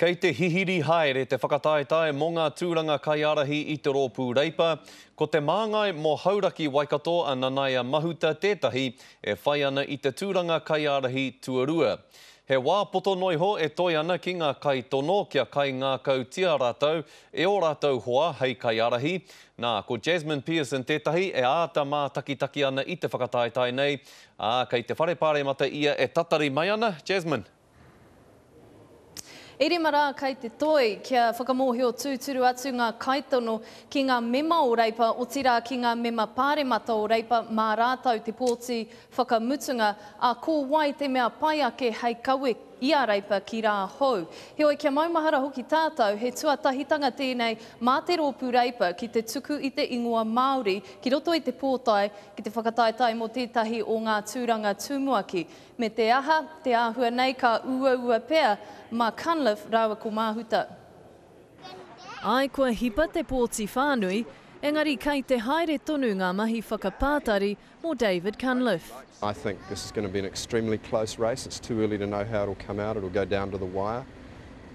Kei te hihiri haere te whakataetae mō ngā tūranga kaiārahi i te Rōpū Reipa, ko Te Māngai mō Hauraki Waikato a Nanaia Mahuta tētahi e whai ana i te tūranga kaiārahi tuarua. He wā poto noa iho e toe ana ki ngā kaitono kia kaingākautia rātou e ō rātou hoa hei kaiārahi, nā, ko Jasmine Pearson tētahi e āta mātakitaki ana i te whakataetae nei, ā, kei te Whare Pāremata ia e tatari mai ana, Jasmine. E rima rā kei te toi kia whakamōhio tūturu atu ngā kaitono ki ngā mema o Reipa, otirā ki ngā mema Pāremata o Reipa mā rātou te pōti whakamutunga, ā, ko wai te mea pai ake hei kawe i a Reipa ki rā hou. Heoi, kia maumahara hoki tātou, he tuatahitanga tēnei mā te rōpū Reipa ki te tuku i te ingoa Māori ki roto i te pōtae ki te whakataetae mō tētahi o ngā tūranga tumuaki. Me te aha, te āhua nei ka uaua pea mā Cunliffe rāua ko Māhuta. Āe kua hipa te pōti whānui, engari kei te haere tonu ngā mahi whakapātari mō David Cunliffe. I think this is going to be an extremely close race, it's too early to know how it'll come out, it'll go down to the wire,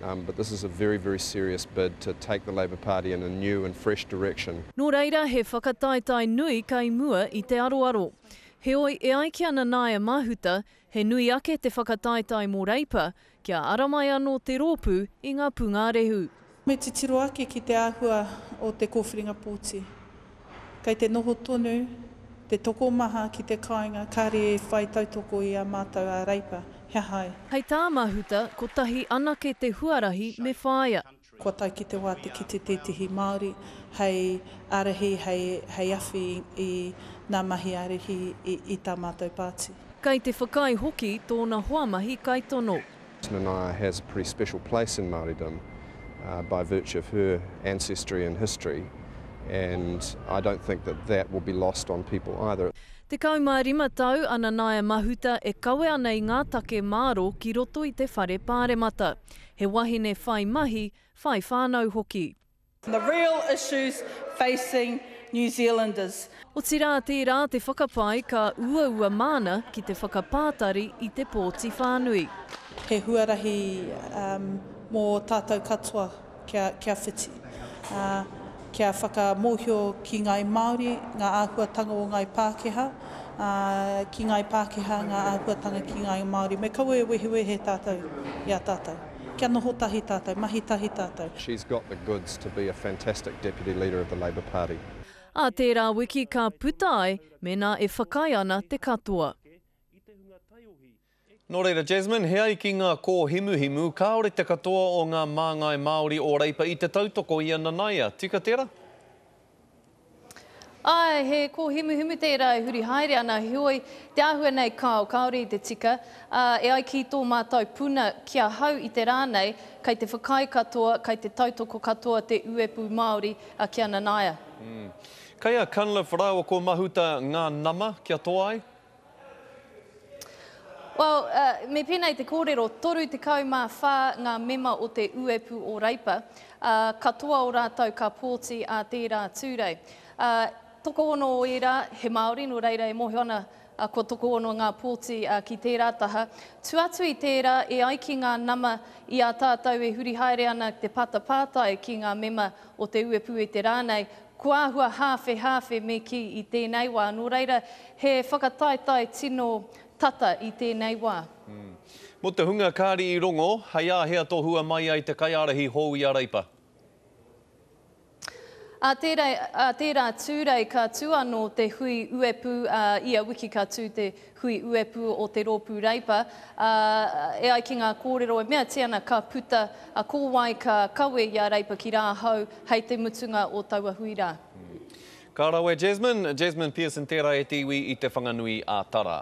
um, but this is a very, very serious bid to take the Labour Party in a new and fresh direction. Nō reira he whakataetae nui kei mua i te aroaro. Heoi, e ai ki a Nanaia Mahuta, he nui ake te whakataetae mō Reipa, kia ara mai anō te rōpū i ngā pūngārehu. Me titiro ake ki te āhua o te kōwhiringa pōti. Kei te noho tonu te tokomaha ki te kāinga kāre e whai tautoko i a mātou a Reipa, he aha ai? Hei tā Mahuta, kotahi anake te huarahi me whāia. Kua tae ki te wā te kite tētehi Māori hei ārahi, hei awhi i ngā mahi ārahi i tā mātou pāti. Kei te whakaae hoki tōna hoa mahi kaitono. Nanaia has a pretty special place in Māoridom by virtue of her ancestry and history and I don't think that that will be lost on people either. Tekau mā rima tau a Nanaia Mahuta e kawe ana i ngā take mārō ki roto i te Whare Pāremata. He wahine whai mahi, whai whānau hoki. The real issues facing New Zealanders. Otirā tērā te whakapae ka uaua māna ki te whakapātari i te pōti whānui. He huarahi mō tātou katoa kia whiti. Kia whakamōhio ki ngāi Māori ngā āhuatanga o ngāi Pākehā, ā, ki ngāi Pākehā ngā āhuatanga ki ngāi Māori. Me kaua e wehewehe tātou i a tātou. Kia noho tahi tātou, mahi tahi tātou. She's got the goods to be a fantastic Deputy Leader of the Labour Party. Ā tērā wiki ka puta ai mēnā e whakaae ana te katoa. Nō reira, Jasmine, he ai ki ngā kōhimuhimu, kāore te katoa o ngā māngai Māori o Reipa i te tautoko i a Nanaia. Tika tērā? Āe, he kōhimuhimu tērā e huri haere ana, heoi, te āhua nei kāo, kāore i te tika, ā, e ai ki tō mātou puna ki ahau i te rā nei, kei te whakaae katoa, kei te tautoko katoa te uepū Māori ki a Nanaia. Kei a Cunliffe rāua ko Mahuta ngā nama kia toa ai? Well, uh, me pēnei te kōrero, 34 ngā mema o te uepu o Reipa, uh, katoa o rātou ka pōti ā tērā tūrei. Uh, tokohono o ērā, he Māori, nō reira e mōhio ana uh, kua tokohono ngā pōti uh, ki tērā taha. Tu atu i tērā, e ai ki ngā nama i a tātou e huri haere ana te pata pātai ki ngā mema o te uepūete rānei, kua āhua hāwhehāwhe me kī i tēnei wā, nō reira he whakataetae tino tata i tēnei wā. Mō te hunga kāri i rongo, hei āhea tohua mai ai te kaiārahi hou i a Reipa? Ā tērā tūrei ka tū anō te hui uepū, ā, ia wiki ka tū te Hui Uepū o te Rōpū Reipa, ā, e ai ki ngā kōrero e meatia ana ka puta a Kōwae ka kawe i a Reipa ki Rāhau hei te mutunga o taua hui rā. Ka rawe Jasmine, Jasmine Pearson tērā e te iwi i Te Whanganui a Tara.